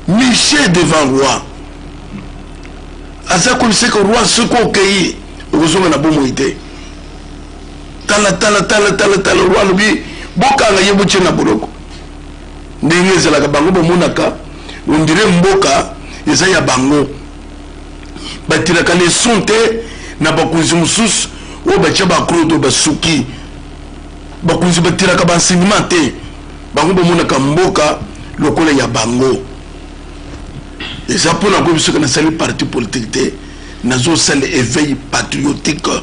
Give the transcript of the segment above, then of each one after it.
michel devant roi aza koliseke roi soki okei okozonga na bomoi te tala tala tala tala tala roi alobi bokanga ye botye na boloko ndenge ezalaka bango bamonaka ondire mboka eza ya bango batiraka leson te na bakonzi mosusu oyo batya bakolo to basuki bakonzi batiraka baenseignement te bango bamonaka mboka lokola ya bango eza mpo na koyebi soki nasali parti politique te nazosala éveil patriotique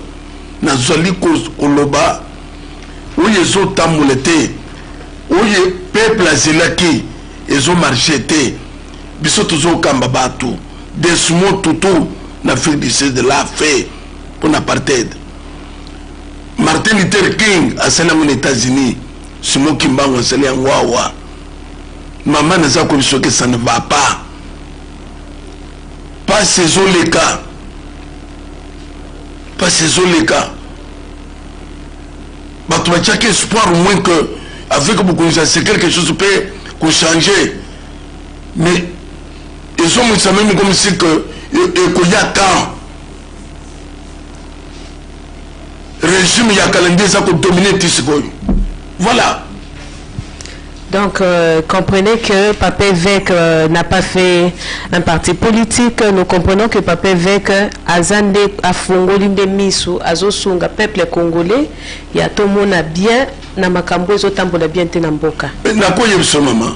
nazali koloba oyo ezotambola te oyo peuple azelaki ezomarche te Biso tozo kamba batu Desmond Tutu na ville du sud de la fait pona apartheid. Martin Luther King asali yango na Etats-Unis. Simon Kimbangu asali yango awa. Mama naza koyebi soki ça ne va pas. Pasi ezoleka. Pasi ezoleka. Bato batiaki espoir au moins que avec bokonzi ya se quelque chose mpe kochanger mais ezongisa meme comme si que ekoya temps régime ya kala nde eza kodomine ti sikoyo voilà Donc, euh, comprenez que Papa Évêque euh, n'a pas fait un parti politique. Nous comprenons que Papa Évêque a zandé, a fongoli de misu, a zosunga peuple congolais. Il y a tout le monde bien, na makambo ezotambola bien te na mboka. Na koyebisa maman.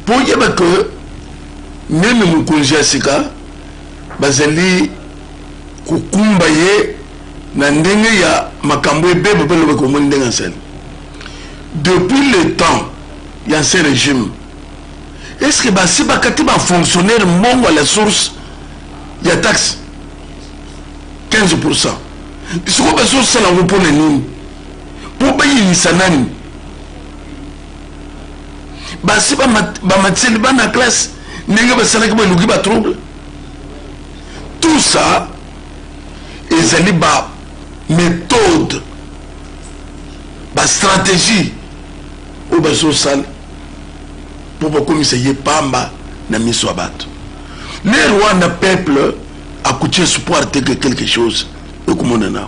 mpo oyeba ke meme mokonzi ya sika bazali kokumba ye na ndenge ya makambo ebeba mpe loba komoni ndenge asali depuis le temps ya ancien régime est ce que basi bakati bafonctionnaire mbongo à la source ya taxe 15 pour cent sikoyo bazosala yango mpo na nini mpo bayinisa nani basi bamatiseli bana classe ndenge basalaki baluki ba trouble tout ça ezali ba méthode ba stratégie oyo bazosala mpo bakomisa ye pamba na miso ya bato ne rwanda peuple akuti espoir te ke quelque chose ekomonana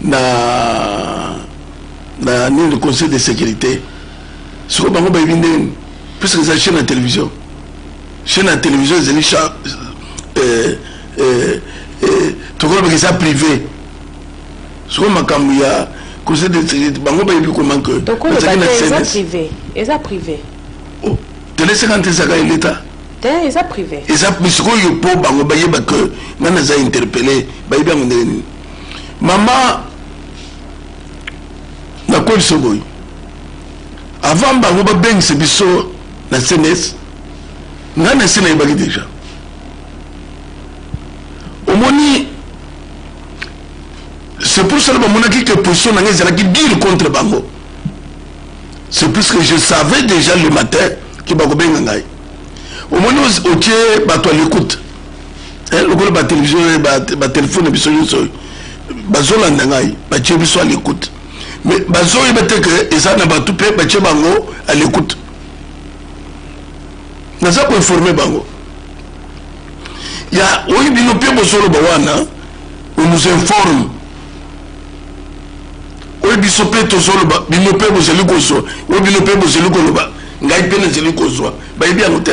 na na nini conseil de sécurité sikoyo bango bayebi nde nini puisque eza chaîne ya télévision chaîne ya télévision ezali euh, euh, euh, tokolobaka eza privé sikoyo makambo ya conseil de sécurité bango bayebi comment que bazali na cns eza privé oh, tele 50 ezaka ya l'état te eza privé eza sikoyo mpo bango bayeba ke ngai naza interpellé bayebi yango ndenge nini Maman, nakolisa boye avant bango babengisa biso na cns ngai na se nayebaki deja omoni c'est pour cela bamonaki que position na ngai ezalaki dire contre bango c'est plus que je savais déjà le matin ke bakobenga ngai omoni otie bato ya l'écoute eh, lokola batelevizio eh, batelefone biso nyonso oyo bazolanda ngai batie biso à l'écoute mais bazoyeba te ke eza na bato mpe batie bango à l'écoute naza koinforme bango ya oyo bino mpe bozoloba wana on nous informe oyo biso mpe tozoloba bino mpe bozali kozwa oyo bino mpe bozali koloba ngai mpe nazali kozwa bayebi yango te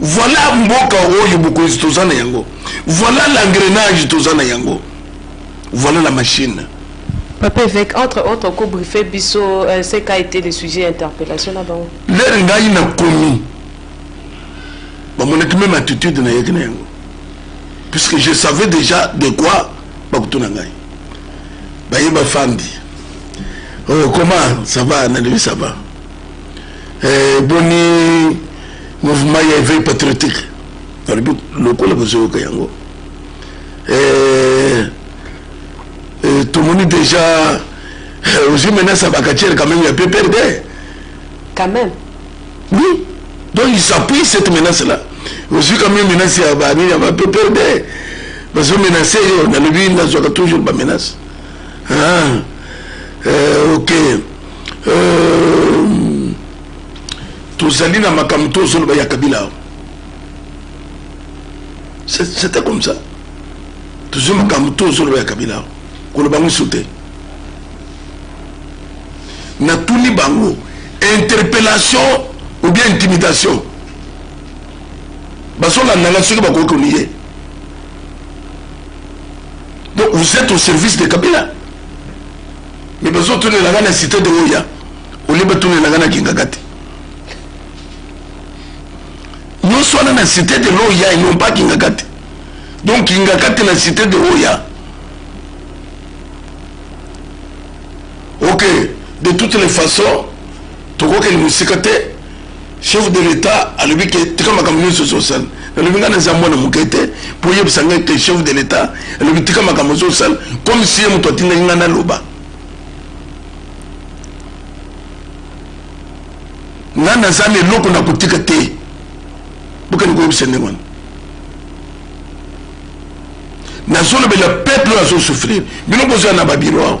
Voila mboka oyo mokonzi toza na yango. Voila l'engrenage toza na yango. Voila la machine. Papa Evêque, entre autres, ko briefer biso, euh, ce qu'a été le sujet interpellation na bango. Leur ngai na komi. Ba monaki même attitude na yaki na yango. Puisque je savais déjà de quoi ba kutuna ngai. Ba yeba fandi. Oh, comment ça va, Nanabi, ça va. eh, boni mouvement ya éveil patriotique nalobi lokola bozoyoka yango eh, eh, tomoni déjà ozwi menace ya bakatiere quand même ya pprd quand même oui donc il s'appuie cette menace là ozwi quand même menace ya banini ya bapprd bazo menace yo nalobi nazwaka toujours bamenace ah, eh, ok Euh, tozali na makambo tozoloba ya kabila c'était comme ça tozwi makambo tozoloba ya kabila koloba yango iso te natuni bango interpellation ou bien intimidation bazolanda ngai soki bakoki koniye donc vous êtes au service de kabila mais bazo tunela nga na cité de oya olie batunela nga na kingaka te nyonso wana na cité de l'oya et non pas kingaka te donc kingaka te na cité de oya ok de toutes les façons tokokende mosika te Chef de l'etat alobi ke tika makambo nyonso ozosala nalobi ngai naza mwana moke te mpo oyebisa ngai ke chef de l'etat alobi tika makambo ozosala comme si ye moto atindaki ngai naloba nga naza na eloko na kotika te bokende koyebisa ndenge wana nazolobela peuple oyo azosouffrir bino bozala na babiro awa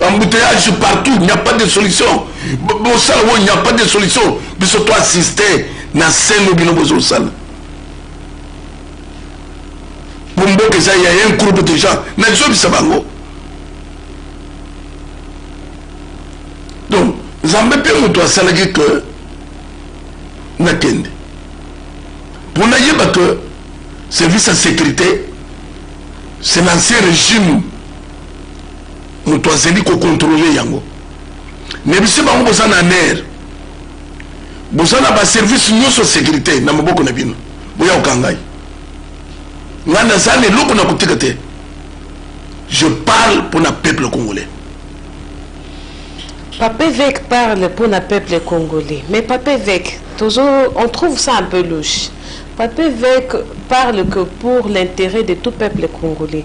embouteillage partout il n'y a pas de solution bosala oyo il n'y a pas de solution biso to assiste na seno bino bozosala po mboka eza ya un groupe de gens nazobisa bango donc nzambe mpe moto asalaki ke nakende mpo nayeba ke service ya sécurité c'est l'ancien régime moto azali kokontrole yango nayebisi bango boza na ner boza na baservice nyonso ya sécurité na maboko na bino boya kokangai ngai naza na eloko na kotika te je parle mpo na peuple congolais Papa évêque parle pour le peuple congolais. Mais Papa évêque, toujours, on trouve ça un peu louche. Papa évêque parle que pour l'intérêt de tout peuple congolais.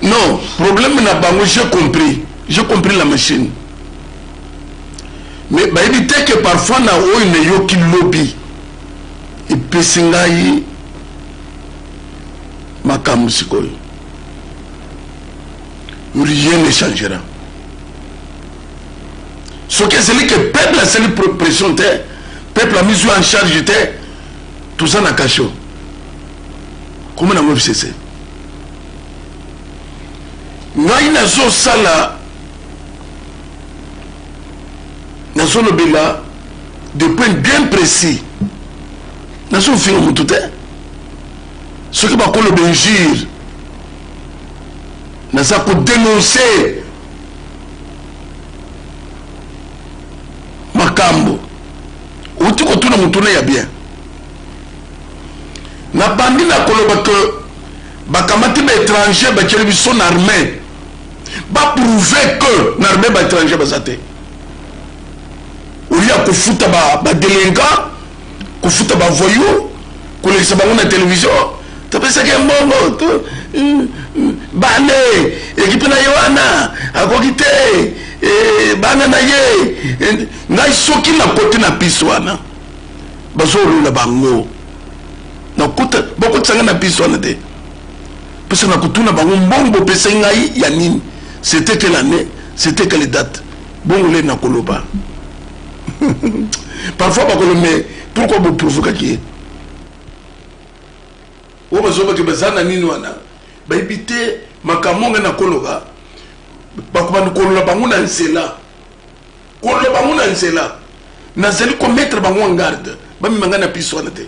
Non, problème na bango, j'ai compris. J'ai compris la machine. Mais bah, il dit que parfois na oyo na yoki lobby. Et puis singayi makambo sikoyo. Rien ne changera. Ce que c'est que peuple a sali pression te, peuple a mis en charge te, tout ça na cachot. Comment na ngobisese? ngai nazosala nazolobela de point bien précis nazofinga motu te soki bakoloba injure naza kodenonse makambo outi kotuna motuna ya bien nabandi na koloba ke bakamati ba etranger batieli biso na armee baprouve que na armee ba etranger baza te olia kofuta badelinquant kofuta bavoyou kolekisa bango na televizio topesaki mbongo hmm, hmm, bane ekipe na ye wana akoki te eh, bana na ye eh, ngai soki nakoti na piste wana bazolola bango nakuta bakotisa ngai na bisi wana te pesa na kotuna bango mbongo bopesa ngai ya nini c'était quelle année c'était quelle date bongo le nakoloba parfois bakolo mais pourquoi boprovokaki ye oyo bazobaki baza na nini wana bayebi te makambo ngai nakoloba bakobanda kolola bango na nzela Koloba ngo na nzela. Nazali ko mettre bango en garde. Bamema nga na piste wana te.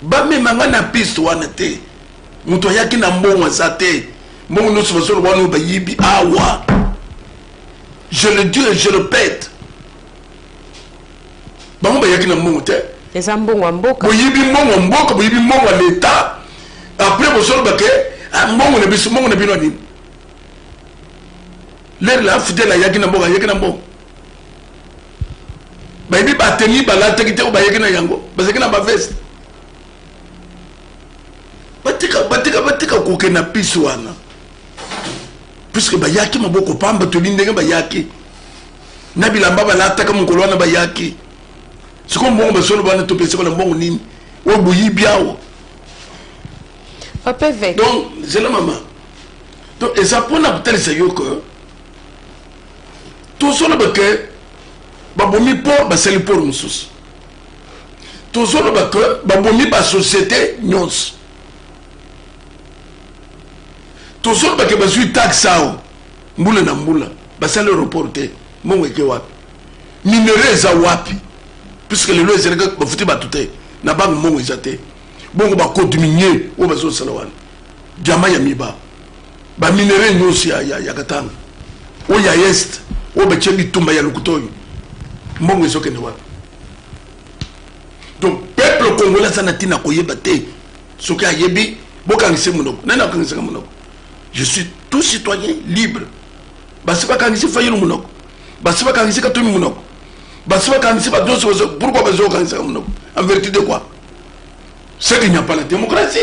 Bamema nga na piste wana te. Moto ayaki na mbongo aza te. Mbongo nyonso bazoloba wana bayibi awa. Je le dis et je le pète. Bango bayaki na mbongo te. Eza mbongo ya mboka. Boyibi mbongo ya mboka, boyibi mbongo ya l'État. Après bozoloba ke ah, mbongo na biso, mbongo na bino nini? Lere la fidèle ayaki na mboka ayaki na mbongo bayebi bateni balataki te oyo bayaki na yango bazalaki na baveste batika batika batika koke na pisi wana puiske bayaki maboko pamba toli ndenge bayaki na bilamba balataka mokolo wana bayaki sikoyo mbongo basolo bana topesi bana mbongo nini oyo boyibi awa donc zela mama donc eza mpona kotalisa yo ke tozoloba ke babomi port basali port mosusu tozoloba ke babomi basociété nyonso tozoloba ke bazwi taxe awa mbula na mbula basali aéroport te mbongo eke wapi minere eza wapi puisque lelo ezalaki bafuti bato te na bango mbongo eza te bongo bakodiminie oyo bazosala wana diamant ya miba ba minerais nyonso ya, ya, ya katanga oyo ya est oyo batie bitumba ya lokuta oyo mbongo ezokende wapi donc peuple congolais aza na ntina koyeba te soki ayebi bokangisi monoko nani akangisaka monoko je suis tout citoyen libre basi bakangisi fayulu monoko basi bakangisi katumi monoko basi bakangisi bato nyonso pourkui bazokangisaka monoko en vertu de quoi ce qu'il n'y a pas la démocratie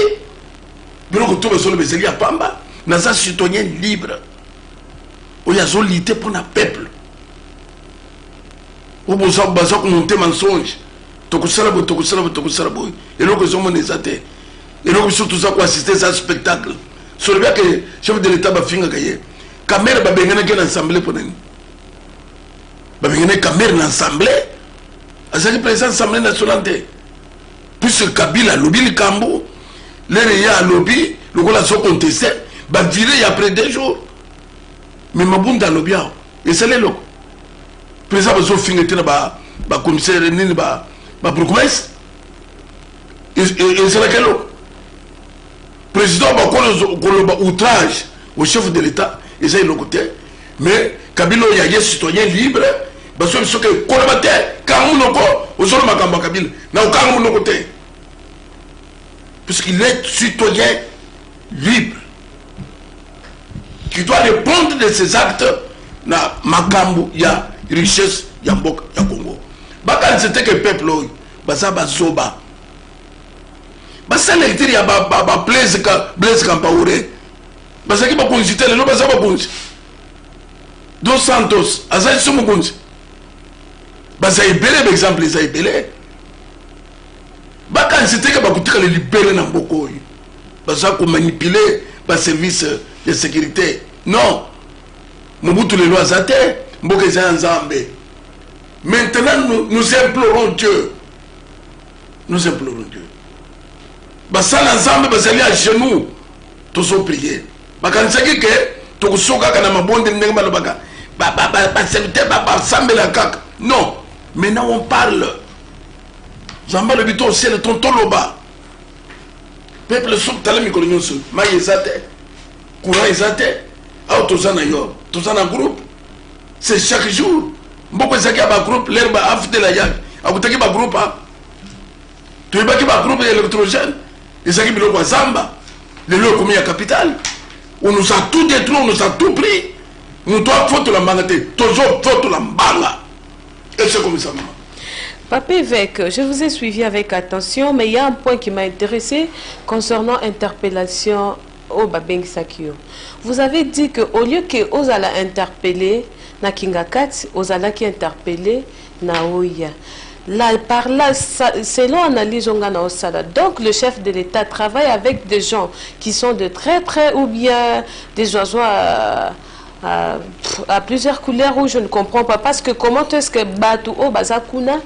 biloko to bazoloba ezali ya pamba naza citoyen libre oyo azolite mpo na peuple oyo baza komonte mensonge tokosala boye tokosala boye tokosala boye eloko ezomona eza te eloko biso toza koassiste eza spectacle solobi ake chef de l'état bafingaka ye kamere babenganaki na assemblée mpo nani babenganaki kamere na assemblée azalaki président assemblée nationale te puisque kabila alobi likambo lere ye alobi lokola azo conteste bavire ya après deux jours mais mabunda alobi awa esali eloko président bazofinga te na bacommissaire nini babourgmestre ezalaka eloko President bakolo koloba outrage au chef de l'Etat eza eloko te mais Kabila oyo aye citoyen libre bazo biso ke koloba te kanga munoko ozolo makambo ya Kabila na okanga munoko te puisqu'il est citoyen libre qui doit répondre de ses actes na makambo ya richesse ya mboka ya Congo bakanisa te ke peuple oyo baza bazoba basala lecture ya bablaise campaure bazalaki bakonzi te lelo baza bakonzi dos santos aza liso mokonzi baza ebele baexemple eza ebele bakanisi teke bakotikala libele na mboka oyo baza komanipule baservice ya sécurité non mobutu lelo aza te mboka eza ya nzambe maintenant nous, nous implorons dieu nous implorons Dieu basala nzambe bazali à genoux tozo prier bakanisaki ke tokoso kaka na mabonde ndenge balobaka baserviteur basambela kaka non maintenant on parle nzambe alobi to osele ton toloba peuple soki tala mikolo nyonso mai eza te courant eza te awa toza na yo toza na groupe C'est chaque jour. Mboko ezaki ya ba groupe l'air ba afdela yaki. Akutaki ba groupe a. Toyebaki ba groupe électrogène. Ezaki biloko ya zamba. Lelo ekomi ya capitale. On nous a tout détruit, on nous a tout pris. Moto afotola mbanga te. Tozo fotola mbanga. Et c'est comme ça maman. Papa évêque, je vous ai suivi avec attention, mais il y a un point qui m'a intéressé concernant interpellation oyo babengisaki yo vous avez dit que au lieu que ozala interpelle na kingakati ozalaki interpelle na oya la par la selon analyse onga na osala donc le chef de l'etat travaille avec des gens qui sont de très près ou bien des oiseaux à, à, à plusieurs couleurs où je ne comprends pas parce que comment est-ce que batu o baza kuna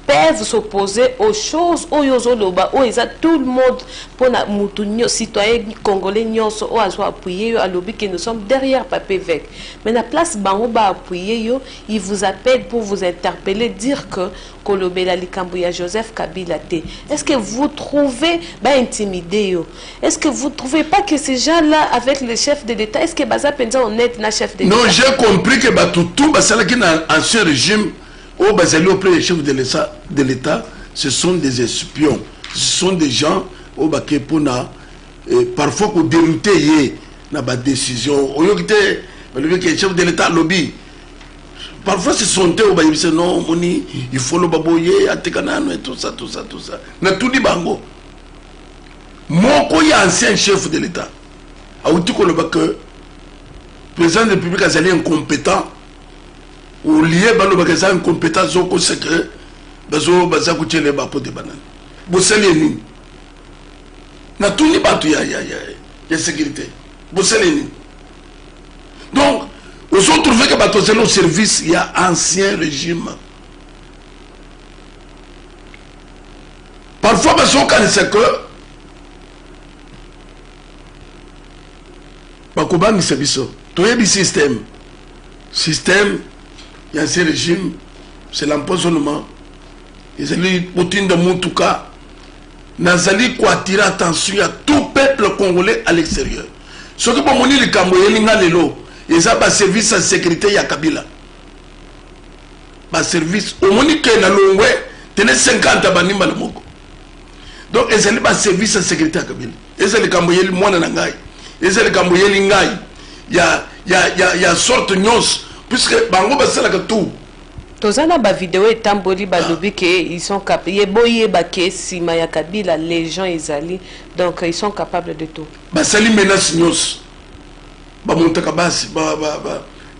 peuvent s'opposer aux choses oyo ozoloba oyo eza tout le monde pona mutu nyo citoyen congolais nyonso oyo azo appuyer yo alobi que nous sommes derrière papa evêque mais na place bango ba appuyer yo il vous appelle pour vous interpeller dire que kolobela likambo ya Joseph Kabila te est-ce que vous trouvez ba intimider yo est-ce que vous trouvez pas que ces gens là avec le chef de l'état est-ce que baza penza honnête na chef de l'état non j'ai compris que batu tout basalaki na ancien régime oyo bazali auprès ya chef de l'etat ce sont des espions ce sont des gens oyo bake mpona eh, parfois kodeloute ye na badécision oyoki te balobi ke chef de l'état alobi parfois ce sont te oyo bayebisa no omoni ifoloba boye ateka nano etosa tosa tosa natuni bango moko ya ancien chef de l'état awuti koloba ke président de république azali incompétent au lieu balobaka eza incompétence okosa ke bazo baza kotyele bapote banani bosali ye nini natuni bato ya, ya, ya, ya sécurité bosali ye nini donc ozotrouve ke bato azali au service ya ancien régime parfois bazokanisa ke bakobangisa biso toyebi système système ya ce régime c'est l'empoisonnement ezali botinda motuka nazali koatire attention ya tout peuple congolais à l'extérieur soki bomoni likambo eyeli nga lelo eza baservice ya sécurité ya kabila baservice omoni ke na longwe tene 50 banimba na moko donc ezali baservice ya sécurité ya kabila eza likambo eyeli mwana na ngai eza likambo eyeli ngai ya, ya, ya, ya sorte nyonso puisque bango basalaka tout toza na bavideo etamboli balobi ah. ke ils sont cap ye boyeba ke nsima ya kabila les gens ezali donc ils sont capables de tout basali menace nyonso bamontaka basi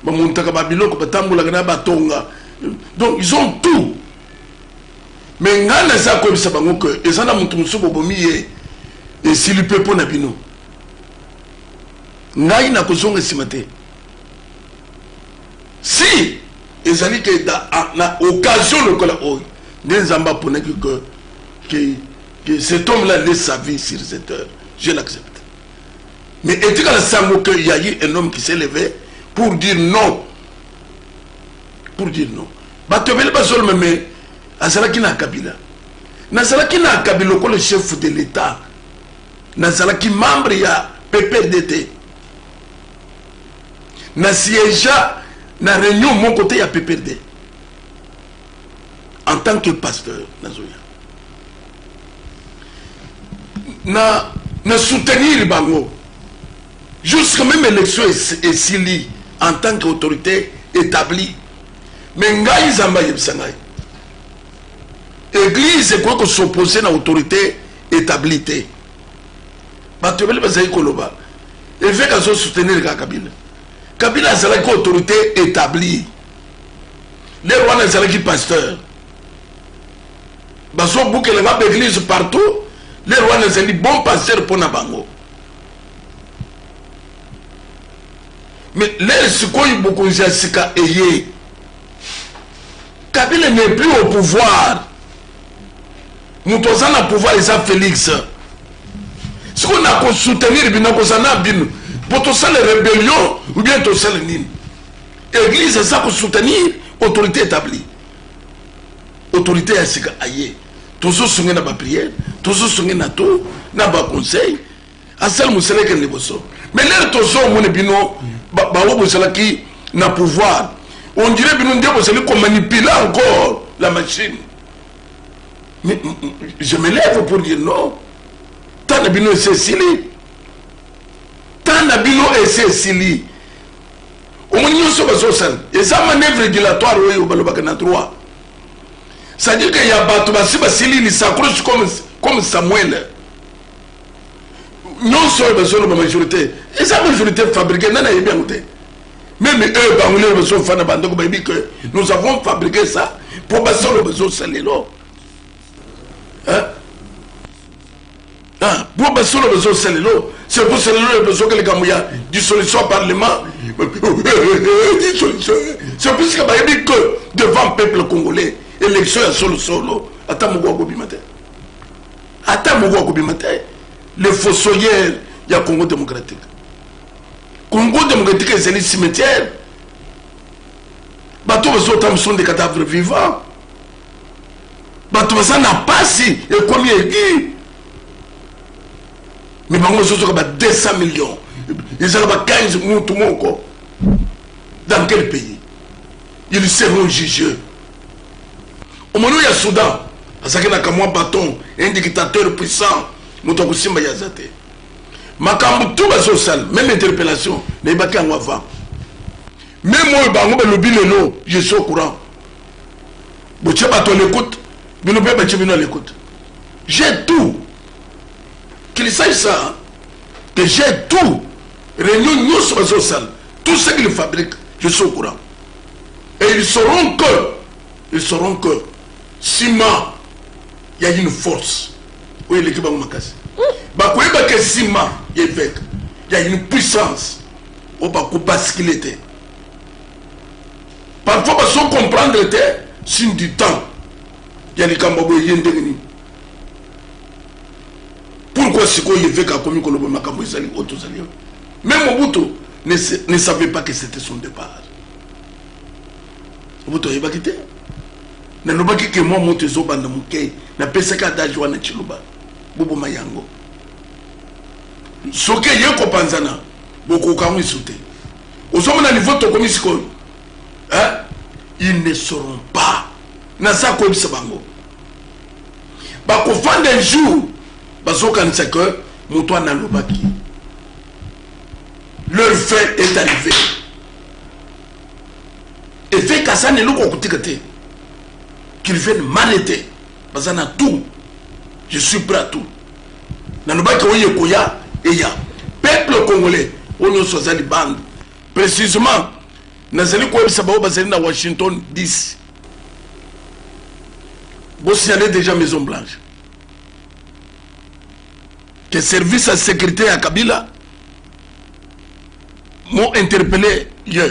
bamontaka babiloko batambolaka na batonga donc ils ont tout Mais nga naza koyebisa bango que eza na mutu mosusu bobomi ye esili mpe mpo na bino ngai nakozonga nsima te si ezali ke na occasion lokola oyo nde nzambe aponaki ke, ke, ke cet homme là laisse sa vie sur cette heure je l'accepte mais etikala sango ke yayi un homme qui s'est levé pour dire non pour dire non bato ebele bazoloma me azalaki na kabila nazalaki na kabila lokola chef de l'etat nazalaki membre ya pprd te na siégea na réunion moko te ya pprd en tant que pasteur nazoya na na soutenir bango Jusque meme election esili en tant que autorité établie mais ngai nzambe ayebisa ngai église ekoki kosopose na autorité établie te bato ebele bazali koloba eveke azosoutenir kaka kabila kabila azalaki autorité établie lelo wana ezalaki pasteur bazobukela nga baeglise partout lelo wana ezali bon pasteur mpo na bango Mais lelo sikoyo bokonzi ya sika eye kabila n'est plus au pouvoir moto aza na pouvoir eza félix sikoyo nakosoutenir bino nakoza na bino po tosala rébellion ou bien tosala nini église eza kosoutenir autorité établie autorité ya sika aye tozosonge na bapriere tozosonge na to na baconseil asala mosala ekende liboso mais lere tozomone bino bango bozalaki na pouvoir on dirait bino nde bozali komanipule encore la machine mais je me lève pour dire non ntan na bino esi esili ntan na bino esi esili omoni nyonso bazosala eza manœuvre dilatoire oyo balobaka na droit c'est à dire que ya bato basi basili lisakolos comme, comme samuel nyonso oyo bazoloba majorité eza majorité fabriqué nani ayebi yango te meme oyo bango lelo bazofanda bandeko bayebi que nous avons fabriqué ça mpo basolo bazosalelo Ah, po basolo bazosalela oyo c'est pour cela oyo bazoka likambo ya dissolution ya parlement dissolution c'est puisque bayebi que devant peuple congolais élection ya solosolo ata moko akobima te ata moko akobima te le fossoyeur ya congo démocratique congo démocratique ezali cimetière bato bazotambusa nde cadavre vivant bato baza na pasi ekomi egi me bango bazozoka ba 200 million ezala ba 15 mutu moko dans quel pays ils seront jugeux omoni ya soudan azalaki na kamwa baton un dictateur puissant moto akosimba ye aza te makambo tu bazosala meme interpellation nayebaki yango avant meme oyo bango balobi lelo je suis au courant botie bato à l'écoute bino mpe batie bino à l'écoute j'ai tout qu'il sache ça que j'ai tout réunion nyonso bazosala tout ce qu'il fabrique je suis au courant et ils sauront que ils sauront que sima ya une force oyo eleki bango makasi bakoyeba ke sima ya eveke ya une puissance oyo bakobaskile te Parfois bazo comprendre te signe du temps ya likambo boye ye ndenge nini pourquoi sikoyo eveka akomi koloba makambo ezali oyo tozali oyo mais mobutu ne, ne savait pas que c'était son départ mobutu ayebaki te nalobaki ke mwa moto ezobanda moke napesaki adage wana ciloba boboma yango soki eye kopanzana bokoka yango isu te ozomona niveau tokomi sikoyo hein? ils ne seront pas naza koyebisa bango bakofanda un jour bazokanisa ke moto wana alobaki leur fin est arrivé efekasani eloko okotika te qu'ils viennent mal ete baza na tout je suis prêt à tout nalobaki oyo ekoya eya peuple congolais oyo nyonso aza libanda précisément nazali koyebisa baoyo bazali na washington 10 bosignale déjà maison blanche que service ya sécurité ya kabila m'ont interpellé hier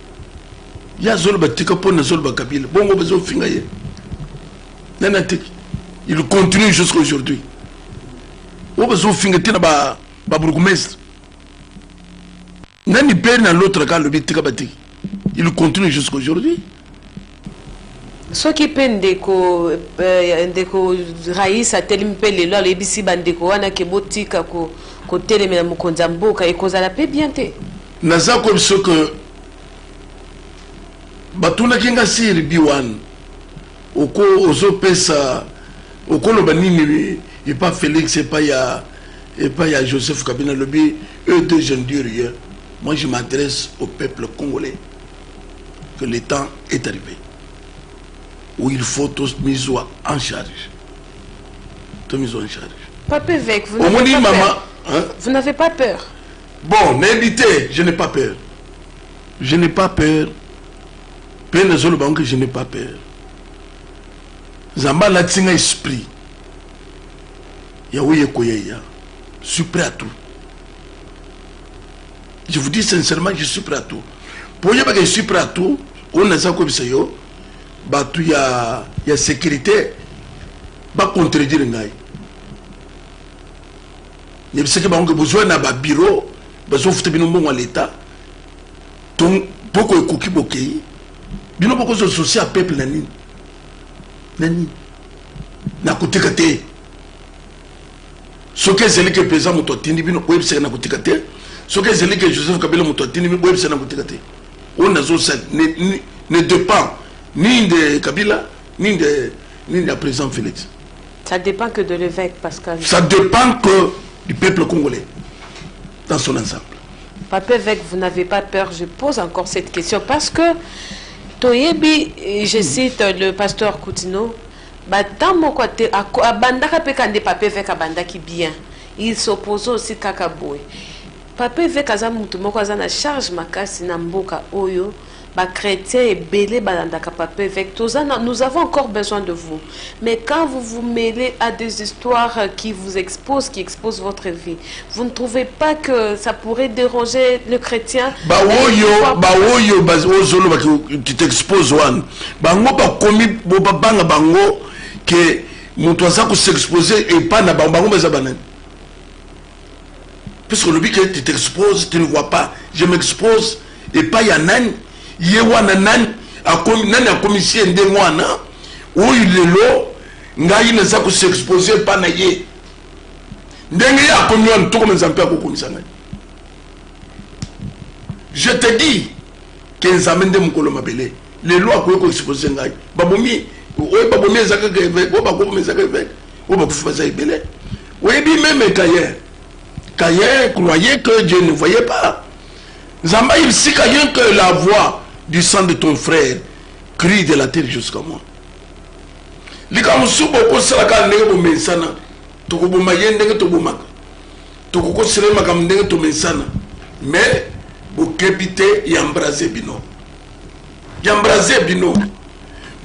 ya zolo batika mpo na zolo bakabila bongo bazofinga ye nani atiki il continue jusqu'à aujourd'hui oyo bazofinga te na babourgmestre nani pere na lotraka alobi tika batiki il continue jusqu'à aujourd'hui Soki pe ndeko ndeko Rais atelemi pe lelo aloyebisi ba ndeko wana que botika ko kotelemela mokonzi ya mboka ekozala pe bien te? Naza ko yebisa yo que batunaki nga CRB wana oko ozo pesa oko loba nini epa Felix epa ya epa ya Joseph Kabila nalobi eux deux je ne dis rien moi je m'adresse au peuple congolais. que le temps est arrivé où il faut tous mis en charge tous mis en charge papa évêque vous n'avez pas, maman, hein? vous n'avez pas peur bon n'éditez je n'ai pas peur je n'ai pas peur mpe nazoloba yango que je n'ai pas peur nzambe alati nga esprit ya oyo ekoya ya supre à tout je vous dis sincèrement je suis prêt à tout mpo oyebaka je suis prêt à tout oyo naza koyebisa yo bato ya, ya sécurité bacontredire ngai yebisaki bango ke bozwa na babiro bazofuta bino mbongo ya leta mpoko ekoki bokei bino bokozwa sosi ya peuple na nini na nini nakotika te soki ezali ke mpenza moto atindi bino oyebisaka na kotika te soki ezali ke joseph kabila moto atindi bino oyebisaka na kotika te oyo nazosali ne dépend ni de kabila ni de ni de président félix ça dépend que de l'évêque pascal ça dépend que du peuple congolais dans son ensemble papa évêque vous n'avez pas peur je pose encore cette question parce que toyebi je cite le pasteur coutino Ba temps moko ate abandaka pe ka nde papa eveque abandaki bien il s'oppose aussi kaka boye papa eveque aza mutu moko aza na charge makasi na mboka oyo ba chretiens ebele balandaka papa eveque toza na nous avons encore besoin de vous mais quand vous vous mele a des histoires qui vous expose qui expose votre vie Vous ne trouvez pas que ça pourrait déranger le chrétien baoyo baoyo ozoloba qui t'expose wana bango bakomi bobabanga bango ke moto aza kosexpose epa na bango bango baza banani puisque olobi ke tu t'expose tu ne vois pas je m'expose epai ya nani ye wana nani akomi nani akomisi ye ndenge wana oyo lelo ngai naza kosexpose epa na ye ndenge ye akomi wana tokoma nzambe mpe akokomisa ngai je te dis ke nzambe nde mokolo mabele lelo akoki koexpose ngai babomi oyo babomi eza kaka eveke oyo bakobomi eza kaka eveke oyo bakufi baza ebele oyebi meme kaye kaye croyait que dieu ne voyait pas nzambe ayebisika ye que la voix du sang de ton frère crie de la terre jusqu'à moi likambo mosusu bokosala kaka ndenge bomesana tokoboma ye ndenge tobomaka tokokosela ye makambo ndenge tomesana me bokebi te ya mbrase bino ya mbrase bino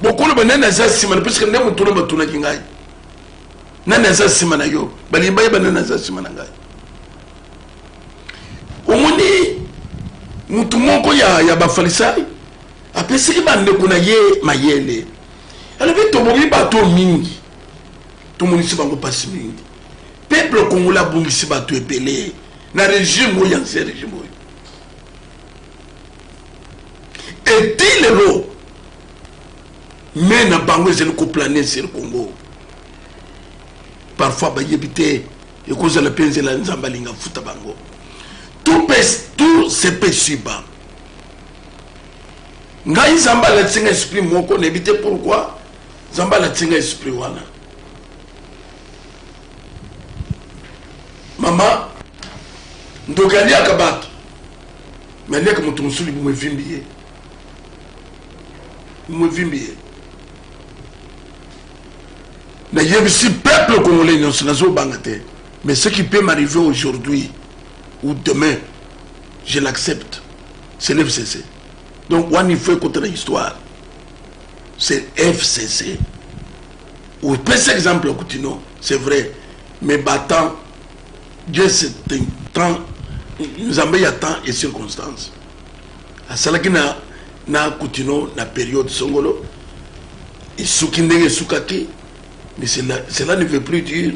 bokoloba nani aza nsima na puiske nde motuna batunaki ngai nani aza nsima na yo balingi bayeba nani aza nsima na ngai omoni motu moko ya, ya bafalisai apesaki bandeko na ye mayele alobi tobomi bato mingi tomonisi bango mpasi mingi peuple congolais abungisi bato ebele na regime oyo yanse regime oyo eti lelo me na bango ezali koplane sur congo parfois bayebi te ekozala mpe nzela nzambe alinga afuta bango tout, tout se peut suba ngai nzambe alatisi nga esprit moko nayebi te pourkui nzambe alatisi nga esprit wana mama ndoki aliaka bato me aliaka moto mosuli bomo evimbi ye bomo evimbi ye nayebisi peuple congolais nyonso nazobanga te mais ce qui peut m'arriver aujourd'hui ou demain je l'accepte c'est le fcc donc wana il faut ekota na histoire c'est fcc opesi exemple ya kutino c'est vrai mais batemps dieu c'est un temps nzambe ya temps et circonstance asalaki na na kutino na période songolo esuki ndenge esukaki mais cela, cela ne veut plus dire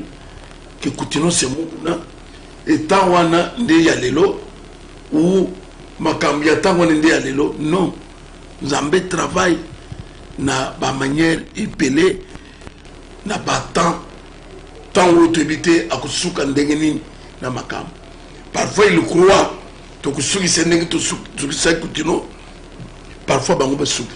que kutino se mokuna etant wana nde ya lelo ou makambo ya ntango wana nde ya lelo non nzambe travail na bamanière ebele na batemps ntango oyo toyebi te akosuka ndenge nini na makambo parfois il croit tokusukisa ndenge tosukisaki kutino parfois bango basuki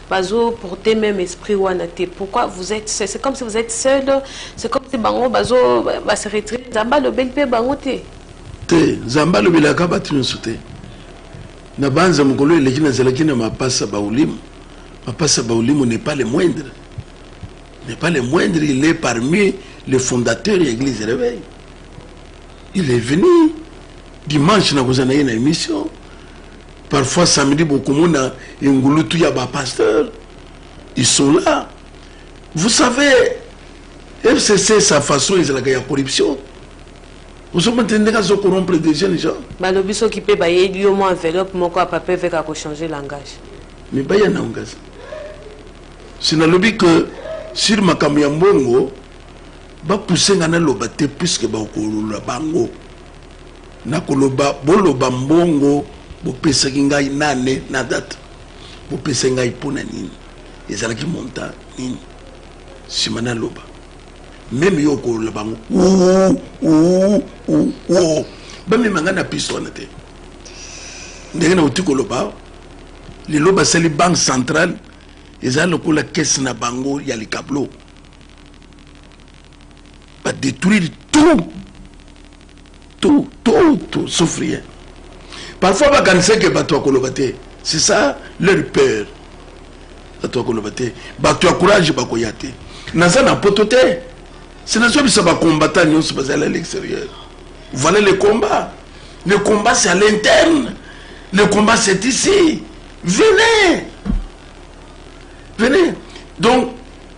bazo porter meme esprit wana te pourquoi vous êtes seul c'est comme si vous êtes seul c'est comme si bango bazo ba se retirer nzambe alobeli mpe bango te te nzambe alobelaka bato nyonso te na banza mokolo eleki nazalaki na mapasa baulimo mapasa baulimo n'est pas le moindre n'est pas le moindre il est parmi les fondateurs ya église réveil il est venu dimanche nakozala na ye na émission Parfois samedi bokomona engulutu ya ba pasteurs ils sont là. Vous savez FCC sa façon ezalaka ya corruption. ozomona te ndenge azo corrompre des jeunes gens balobi soki mpe bayeli yo mwa enveloppe moko ya papier veka kochanger langage mais baya na ngaza si nalobi que sur makambo ya mbongo bapuse nga naloba te puiske bakolola bango Nakoloba, boloba mbongo bopesaki ngai na annee na date bopesaki ngai mpo na nini, ezalaki montant nini, nsima naloba meme yo okolola bango uuuuuo bamema ngai na piste wana te ndenge nauti koloba lelo basali banque centrale eza lokola kese na bango ya likablo badetruire tout tout tout tout sauf rien parfois bakanisa ke bato ya koloba te c'est ça leur peur bato ya koloba te bato ya courage bakoya te naza na poto te se nazobisa bacombattant nyonso bazali à l'extérieur voilà le combat le combat c'est à l'interne le combat c'est ici venez venez donc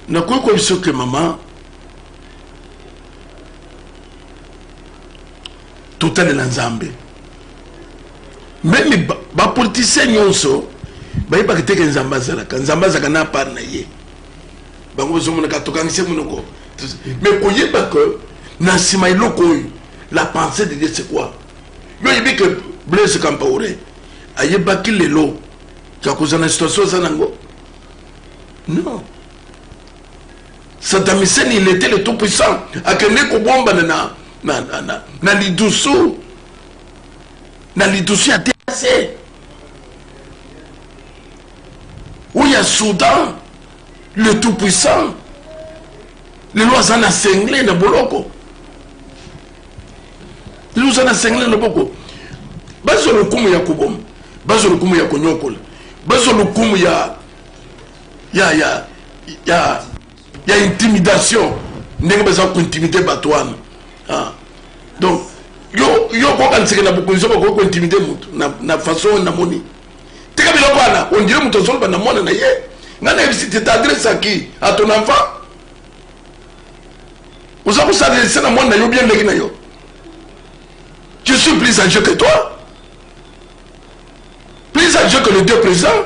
nakoki koyebi soki mama totalela nzambe meme bapolitisien nyonso bayebaka te ke nzambe azalaka nzambe azalaka na apart na ye bango bazomonaka tokangise monoko me koyeba ke na nsima eloko oyo la pensée de dieu c'est quoi yo oyebi ke blaise campaure ayebaki lelo ya kozala na situation aza nango non Saddam Hussein il était le tout puissant akende kobombana na, na, na, na, na lidusu na lidusu ya TAC oyo ya Soudan le tout puissant lelo aza na sengle na boloko lelo aza na sengle na boko bazwa lokumu ya koboma bazwa lokumu ya konyokola bazwa lokumu ya ya ya ya ya intimidation ndenge baza kointimide bato wana ah. donc yo yo kokaniseke na bokonzi oyo bakoki kointimide motu na façon oyo namoni tika biloko wana ondire moto azoloba na mwana na ye ngai nayebisi te t'adresse à qui à ton enfant oza kosalelisa na mwana na yo bien ndenge na yo je suis plus âgé que toi plus âgé que le deux président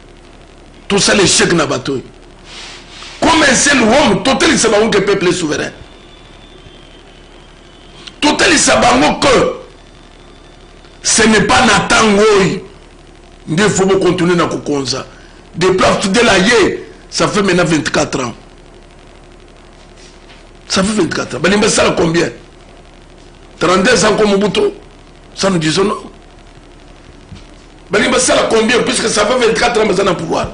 tosala echec na bato oyo comme un seul homme totalisa bango ke peuple est souverain totalisa bango ke ce n'est pas na ntango oyo nde fo bocontinue na kokonza depuis afudela ye ça fait maintenant 24 ans ça fait 24 ans balingi basala combien 32 ans ko mobutu ça nous disons non balingi basala combien puisque ça fait 24 ans baza na pouvoir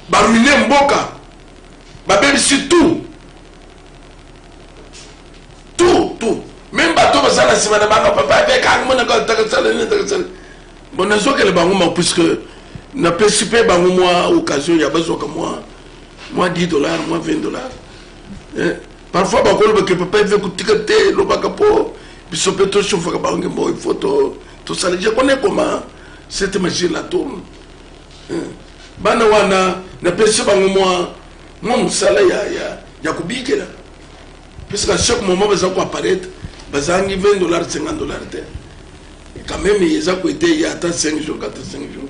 baruine mboka babebisi tout tout tout meme bato baza na nsima na bango papa avekanga monaka takasala nini takasala bon nazokele bango ma puisque napesi mpe bango mwa occasion ya bazwaka mwa mwa 10 dollar mwa 20 dollar eh? Parfois bakoloba ke papa eve kotika te elobaka mpo biso mpe toshofaka bango ngembo il faut tosala je connais comment cette machine la tourne bana wana napesi bango mwa mwa mosala ya, ya, ya kobikela puisque chaque moment baza koapparaître bazangi 20 dollars 50 dollars te quand même eza koeteya ata 5 jours ata 5 jours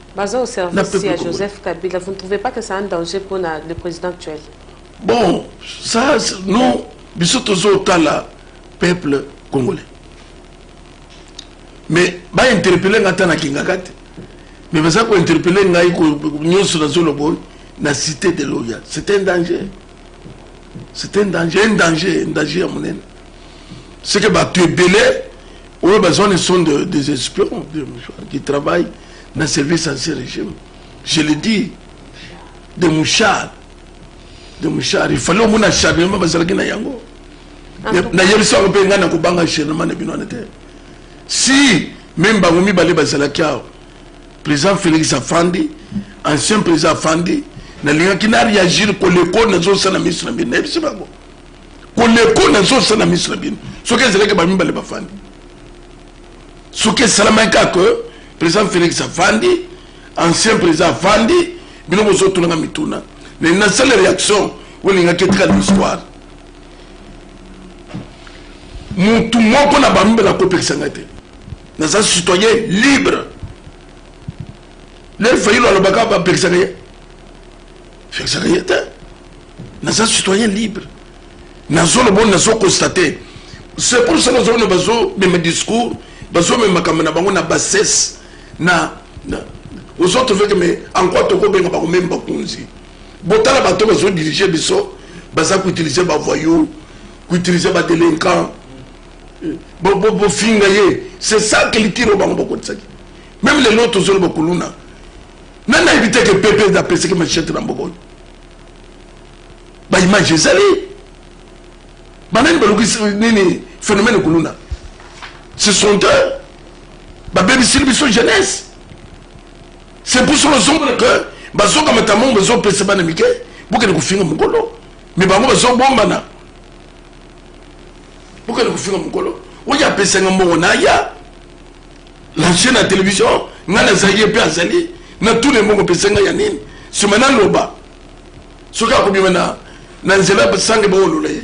Baza au service ya Joseph Kabila, vous ne trouvez pas que c'est un danger pour na, le président actuel Bon, ça, non, biso tozo tala peuple congolais. Mais ba interpeller ngata na kingakate. Mais baza ko interpeller ngai ko nyoso na zolo boy na cité de Loya. C'est un danger. C'est un danger, un danger, un danger à mon aide. C'est que bah, tu es belé, ou besoin de sont des espions qui travaillent na service ancien régime je le dis de mouchard de mouchard il fallait omona acharnement bazalaki na yango nayebisi yango mpe ngai nakobanga acharnement na bino wana te si meme bango mibale bazalaki awa président félix afandi ancien président afandi nalingaki na réagir koleko nazosala miso na bino nayebisi bango koleko nazosala miso na bino soki ezalaki bamibale bafandi soki esalamaki kaka que président félix afandi ancien président afandi bino bozotunanga mituna mais na sale réaction oyo elingaki etikala histoire mutu moko na bambe nakopekisa ngai te naza citoyen libre lefayilo alobaka bapekisaka ye fekisaka ye te naza citoyen libre nazoloba oyo nazo constate c'est pour ça nazomona bazomema discours bazomema makambo na bango na bassesse na ozotrouve ke me en quoi tokobenga bango meme bakonzi botala bato bazodirige biso baza koutilize bavoyou koutilize badelinquant bofinga ye c'est ça culture oyo bango bakotisaki meme lelo tozoloba kuluna nani ayebi te ke pepe nde apesaki machete na mboka oyo baimage ezali banani balukisi nini phénomène kuluna ce sont eux babebisili biso jeunesse c'est pour cela ozomona ke bazongamata mongo bazopesa bana mike bokende kofinga mokolo me bango bazobombana bokende kofinga mokolo oyo apesanga mbongo na ya na jeu na television ngai nazali ye mpe azali na tuna ebongo opesa ngai ya nini nsima naloba soki akobima na, na nzela basange baolola ye